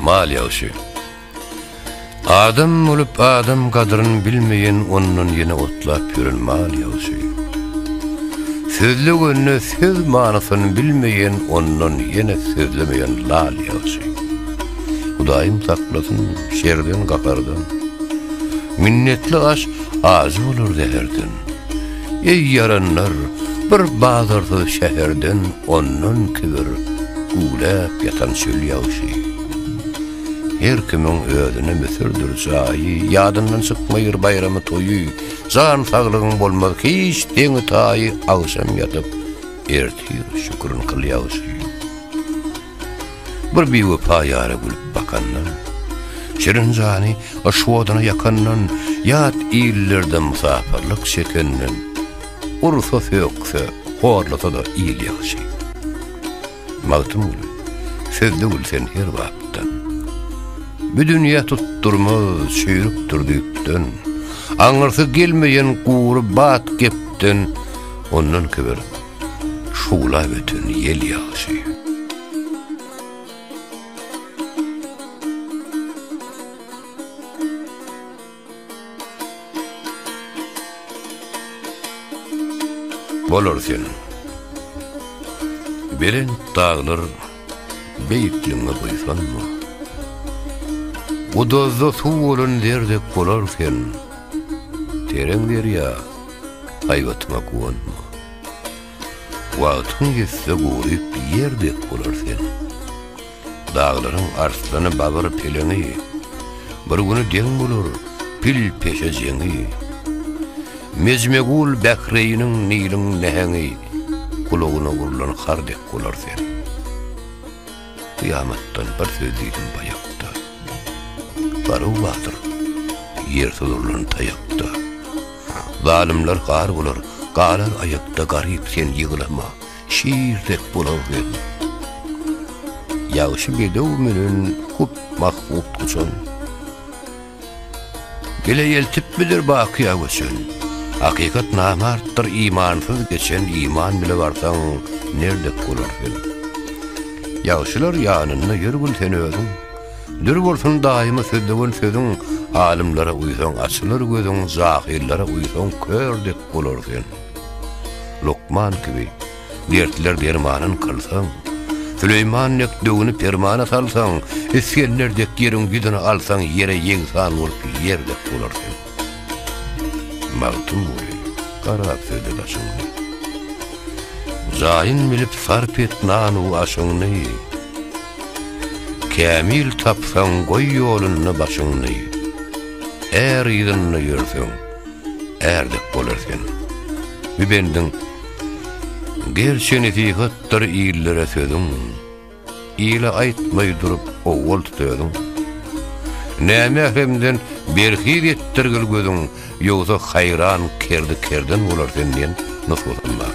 Mal ýagşy. Adam bolup adam gadryn bilmeýän ondan ýene otlap ýören mal ýagşy. Sözlegende söz manysyny bilmeýän ondan ýene sözlemeýän lal ýagşy. Hudaýym saklasyn şerden gahardan. Minnetli aş ajy bolar zäherden. Eý ýaranlar, bir bazarsyz şäherden ondan kibir güwläp ýatan çöl ýagşy. Her kimiň özüne müsürdir jaýy, ýadyndan çykmaýyr baýramy toýy, jan saglygyň bolmaz hiç deňi taýy, agşam ýatyp ertir şükrin kyl ýagşy. Bir biwepa ýara gülüp bakandan, Şirin jany yşk oduna ýakandan, Ýat illerde mysapyrlyk çekenden, Ursa, sökse, horlasa-da il ýagşy. Magtymguly, sözde gül sen her bapdan. Bu dünýä tutdurmaz çüýrükdir düýpden, Aňyrsy gelmeýän gury bat gepden, Ondan kiber, şuwlap öten ýel ýagşy. Bolar sen, belent daglar. Beýikligiňe buýsanma. Guduzda suw bolan zer dek bolar sen, Tereň derýa, haýbatyňa guwanma. Wagtyň ýetse guryp ýer dek bolar sen, Daglaryň arslany babyr peleňi, Bir güni deň bolar pil peşe jeňi. Mejmegul Bähreýiniň Niliň näheňi, Gulagyna urlan har dek. Olar sen. Kyýamatdan bir söz diýdim baýakda. Garuw batyr, ýer sudurlan taýakda. Zalymlar gar bolar, galar aýakda garyp sen ýyglama. Şir dek bolar sen. Ýagşy bedew menen hut mahbub uçan. Bile eltip bilir bakyýa göçen. Hakykat namartdyr imansyz geçen iman bile barsaň nerdek bolar sen. Ýagşylar ýanynda ýör gül sen özüň. Dür bolsun daýyma sözlewen sözüň alymlara uýsaň açylar gözüň jahyllara uýsaň kördek bolar sen. Lukman kibi. Dertler dermanyn kylsaň, Süleýman dek döwüni permana salsaň, Isgender dek ýeriň ýüzüni alsaň, Ýere ýegsan bolup ýer dek bolarsyň. Magtymguly, garap söze daşyňy. Jaýyn bilip sarp et nan-u aşyňy, Kämil tapsaň goý ýolunda başyňy, Är yzynda ýörseň, är dek bolar sen. Bu bendiň Gerçi nesihatdyr illere sözüň, Ile aýtmaý durup owal tut özüň. Nämähremden berhiz etdirgil gözüň, Ýogsa haýran kerdi kerden bolar sen diýen nusgasam bar.